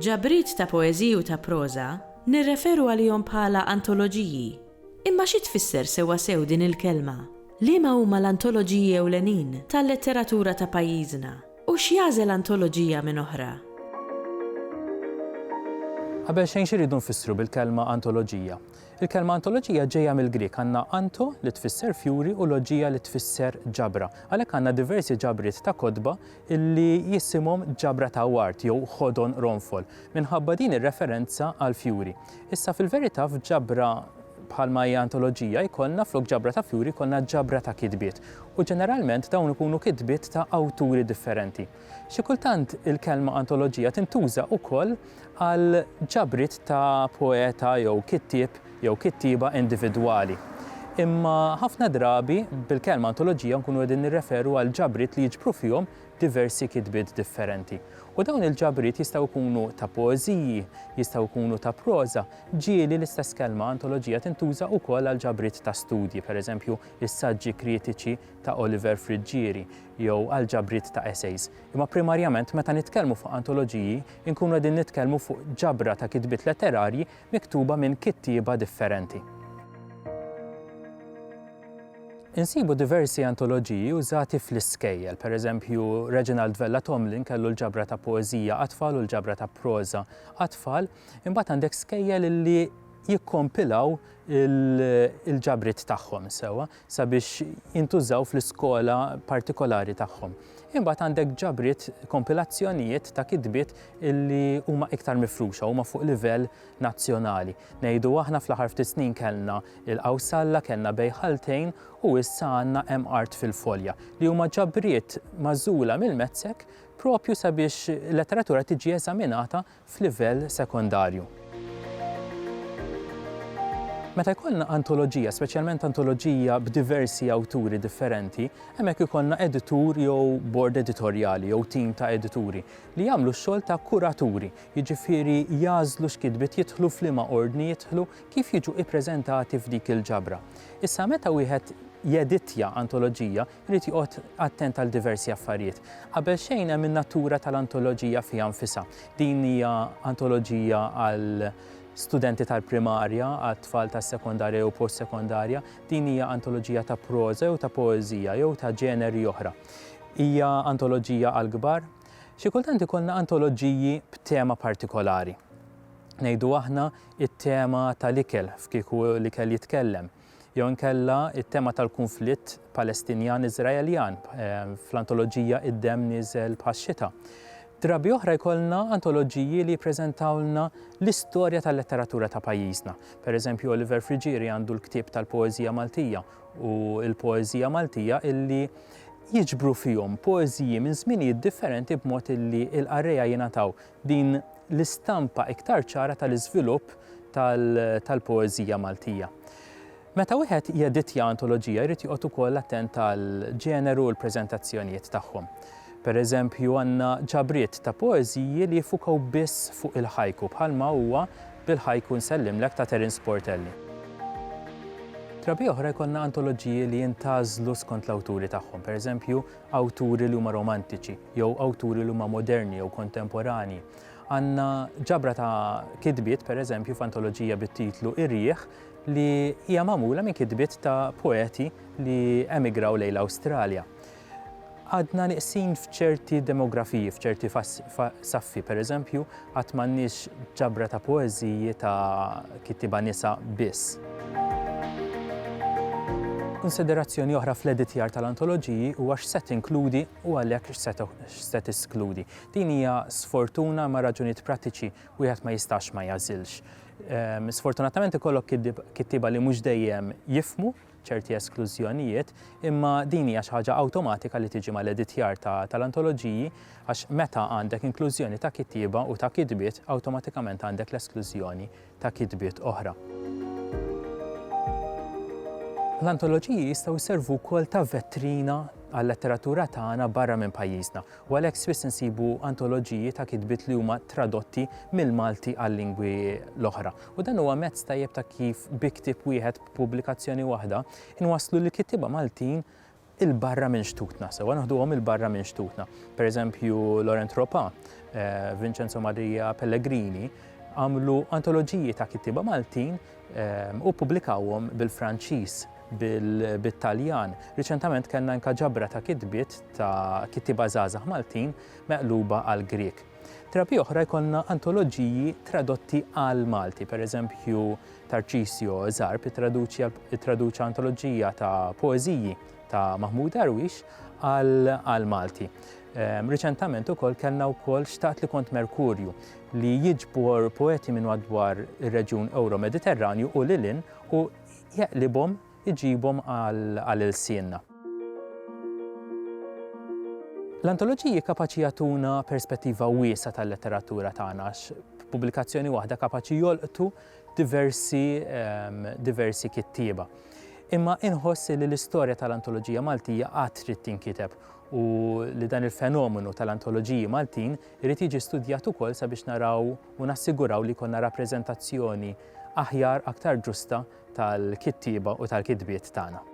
Ġabriet ta' poeżiji u ta' proża nirreferu għalihom bħala antoloġiji. Imma xi tfisser sewwasew din il-kelma? Liema huma l-antoloġiji ewlenin tal-letteratura ta' pajjiżna? U x'jagħżel antoloġija minn oħra? Qabel xejn x'irridu nfissru bil-kelma antoloġija? Il-kelma antoloġija ġejja mill-Grieg, għandna anto li tfisser fjuri u loġija li tfisser ġabra. Għalhekk għandna diversi ġabriet ta' kotba li jisimhom ġabra ta' ward jew ħodon ronfol, minħabba din ir-referenza għall-fjuri. Issa fil-verità f'ġabra Bħalma hija antoloġija, jkollna flok ġabra ta' fjuri jkollna ġabra ta' kitbiet. U ġeneralment dawn ikunu kitbiet ta' awturi differenti. Xi kultant il-kelma antoloġija tintuża ukoll għal ġabriet ta' poeta jew kittieb jew kittieba individwali. Imma ħafna drabi bil-kelma antoloġija nkunu qegħdin nirreferu għal ġabriet li jiġbru fihom diversi kitbiet differenti. U dawn il-ġabriet jistgħu jkunu ta' poeżiji, jistgħu jkunu ta' proża, Ġieli l-istess kelma antoloġija tintuża wkoll għal ġabriet ta' studji, pereżempju, is-saġġi kritiċi ta' Oliver Friggieri, jew għal ġabriet ta' essays. Imma primarjament meta nitkellmu fuq antoloġiji nkunu qegħdin nitkellmu fuq ġabra ta' kitbiet letterarji miktuba minn kittieba differenti. Insibu diversi antoloġiji użati fl-iskejjel, pereżempju, Reginald Vella Tomlin kellu l-ġabra ta' poeżija għat-tfal u l-ġabra ta' proża għat-tfal, Imbagħad għandek skejjel illi jikkompilaw il-ġabrit tagħhom sewa sabiex jintużaw fl-iskola partikolari tagħhom. Imbagħad għandek ġabrit kompilazzjonijiet ta' kitbiet illi huma iktar mifruxa huma fuq livell nazzjonali. Ngħidu aħna fl-aħħar ftit snin kellna il-Qawsalla, kellna Bejħaltejn u issa għandna hemm art fil-folja li huma ġabriet mażula mill-mezzek propju sabiex letteratura tiġi eżaminata f'livell sekondarju. Meta jkollna antoloġija, speċjalment antoloġija b'diversi awturi differenti, hemmhekk ikollna editur jew bord editorjali jew tim ta' edituri li jagħmlu x-xogħol ta' kuraturi, jiġifieri jagħżlu x'kitbiet jidħlu f'liema ordni jidħlu kif jiġu ippreżentati f'dik il-ġabra. Issa meta wieħed jeditja antoloġija, Irid joqgħod attent għal diversi affarijiet. Qabel xejn hemm in-natura tal-antoloġija fiha nfisha. Din hija antoloġija għal studenti tal-primarja, għat-tfal tas-sekondarja jew post-sekondarja. Din hija antoloġija ta' proża jew ta' poeżija jew ta' ġeneri oħra. Hija antoloġija għall-kbar. Xi kultant ikollna antoloġiji b'tema partikolari. Ngħidu aħna it-tema tal-ikel f'Kieku l-ikel jitkellem. jew inkella it-tema tal-kunflitt Palestinjan-Iżraeljan fl-antoloġija Id-Demm Nieżel bħax-Xita. Drabi oħra jkollna antoloġiji li jippreżentawlna l-istorja tal-letteratura ta' pajjiżna. Pereżempju, Oliver Frigieri għandu l-ktieb tal-poeżija Maltija u l-poeżija Maltija illi jiġbru fihom poeżiji minn żminijiet differenti b'mod illi l-qarrejja jingħataw Din l-istampa iktar ċara tal-iżvilupp tal-poeżija Maltija. Meta wieħed jeditja antoloġija jrid joqgħod ukoll attent għall-ġeneru u l-preżentazzjonijiet tagħhom. Pereżempju għandna ġabriet ta' poeżiji li jiffukaw biss fuq il-haiku bħalma huwa Bil-Haiku Nsellimlek ta' Terence Portelli. Drabi oħra jkollna antoloġiji li jintgħażlu skont l-awturi tagħhom, pereżempju awturi li huma romantiċi jew awturi li huma moderni jew kontemporanji. Għandna ġabra ta' kitbiet, pereżempju, f'antoloġija bit-titlu Ir-Riħ li hija magħmula minn kitbiet ta' poeti li emigraw lejn l-Awstralja. Għadna nieqsin f'ċerti demografiji, f'ċerti saffi, pereżempju, Għad m'għandniex ġabra ta' poeżiji ta' kittieba nisa biss. Kunsiderazzjoni oħra fl-editjar tal-antoloġiji huwa x'se tinkludi u għalhekk x'se teskludi. Din hija sfortuna ma' raġunijiet prattiċi wieħed ma jistax ma jagħżilx. Ehm, sfortunatament ikollok kittieba li mhux dejjem jifhmu ċerti esklużjonijiet, imma din hija xi ħaġa awtomatika li tiġi mal-editjar tal-antoloġiji għax meta għandek inklużjoni ta' kittieba u ta' kitbiet, awtomatikament għandek l-esklużjoni ta' kitbiet oħra. L-antoloġiji jistgħu jservu wkoll ta' vetrina għal-letteratura tagħna barra minn pajjiżna, u għalhekk spiss insibu antoloġiji ta' kitbiet li huma tradotti mill-Malti għal-lingwi l-oħra. U dan huwa mezz tajjeb ta' kif bi ktieb wieħed b'pubblikazzjoni waħda, inwasslu lill-kittieba Maltin 'il barra minn xtutna sewwa, naħduhom 'il barra minn xtutna. Per eżempju, Laurent Ropa, eh, Vincenzo Maria Pellegrini, għamlu antoloġiji ta' kittieba Maltin eh, u publikawhom bil-Franċiż bil-Taljan. Riċentament kellna anka ġabra ta' kitbiet ta' kittiba żgħażagħ Maltin meqluba għal Grieg. Trabi oħra jkollna antoloġiji tradotti għal Malti, per eżempju Tarcisio Zarb ittraduċa antoloġija ta' poeżiji ta' Mahmoud Darwish għal Malti. Ehm, riċentament ukoll kellna wkoll xtaqt li kont Merkurju li jiġbor poeti minn madwar ir-reġjun Euro-Mediterranju u lilin u jeqlibhom iġibhom għal ilsienna. L-antoloġiji kapaċi jagħtuna perspettiva wiesa tal-letteratura tagħna pubblikazzjoni waħda kapaċi jolqtu diversi diversi kittieba. Imma inħoss li l-istorja tal-antoloġija Maltija għad trid tinkiteb u li dan il-fenomenu tal-antoloġiji Maltin irid jiġi studjat ukoll sabiex naraw u nassiguraw li jkollna rappreżentazzjoni aħjar aktar ġusta tal-kittieba u tal-kitbiet tagħna.